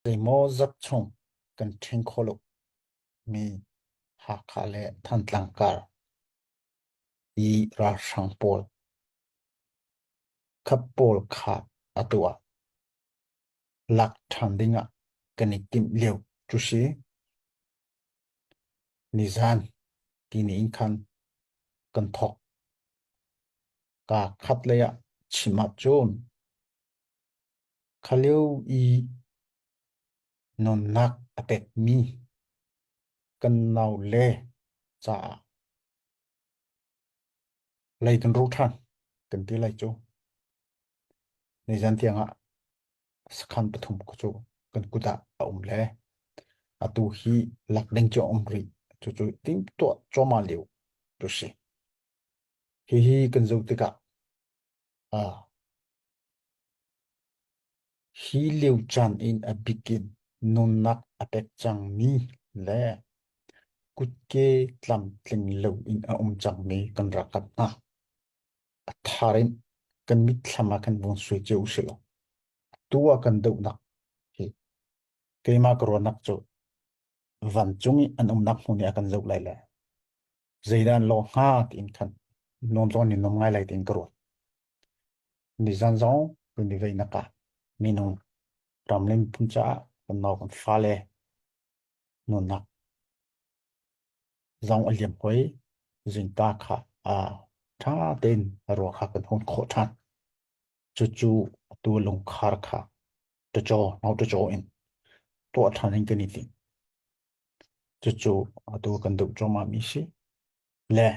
Zeimaw zat chung kan ṭhen kho lo mi Hakha le Thantlang kar i ralhrang pawl khat pawl kha atu ah lak ṭhan ding ah kan i timh lio cu si. Nizan tini in khan kan thawk. Kaa khat lei ah chim ahcun Khalio i nunnak a pekmi kan nau le caah lei kan ru ṭhan kan ti lai cu. Nizan tiangah sakhan pathum cu kan kut ah a um le atu hi lak ding cu a um rih. Cucu timhtuah cuahmah lio cu si. Hihi kan zoh tikah Hi lio caan in a bik in nunnak a pek cangmi le kutke tlamtling loin a um cangmi kan rak kan hngah. A thar in kan mitthlam ah kan vun sui cio usilaw atu ah kan dohnak hi keimah ka ruahnak cu vancung i an umnak hmun i a kan zoh lai le zeidan lo hnga tiin khan nuam zong ni nuam ngai lai tiin ka ruat nizan zong kan i veih naka minung ramlin phun caah kan no kan fale nunak zong aliam hoi zinta kha a tha tein ruwa kha kan hon kho than cucu atu lungkhar kha tacaw no tacaw in to than hin kan i ting Cucu atu kan duh cuahmah mi si. Le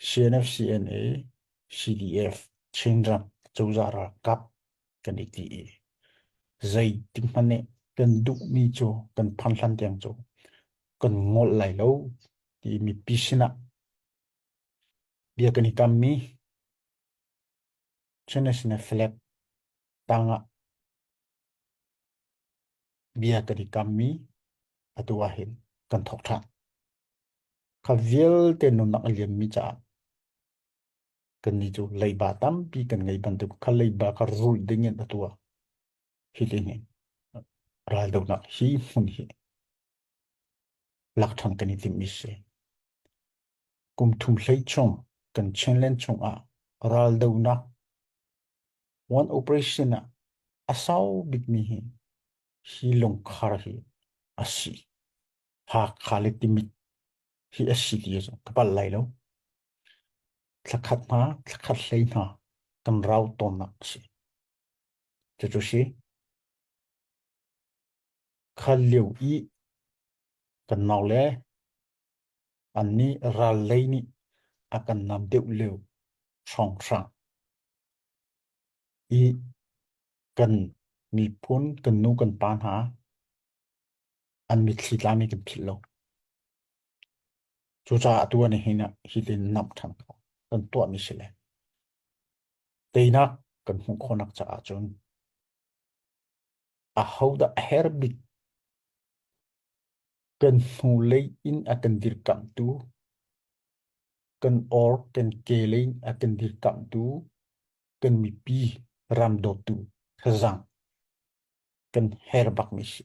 CNFCNA, CDF, Chinram cozah ralkap kan i ti i zei ti hmanh nih kan duh mi cu kan phan hlan tiang cu kan ngol lai lo ti mipi sinah bia kan i kam mi Chin National Flag tangah Bia kan i kammi atu ahhin kan thawk ṭhan. Kha vialte nunnak a liammi caah kannih cu leiba tampi kan ngei bantuk kha leiba kha rulh dingin atu ah hi lihnin raldohnak hi hmun hi Lakṭhang kan i timh i si. Kum thum hlei chung kan Chinland chungah raldonak one operation ah a sau bikmi hi hi lungkhar hi a si. Hakha le timit hi a si ti cu ka palh lai lo. Thlakhat hna, thlakhat hlei hna kan rau tawnnak a si. Cucu si. Khan lio i kan nau le an nih ral lei nih a kan nam deuh lio hrawnghrang i kan miphun kan nu kan pa hna an mitthli tlam hi kan philh lo. Cucaah atu ah nihin ah hi le namh ṭhan ko kan tuahmi si le teinak kan hmuh khawhnak caah cun Ahodah a herh bik? Kan hnulei in a kan dirkamhtu, kan or kan kehlei in a kan dirkamhtu, kan mipi ram dawtu thazaang kan her bakmi si.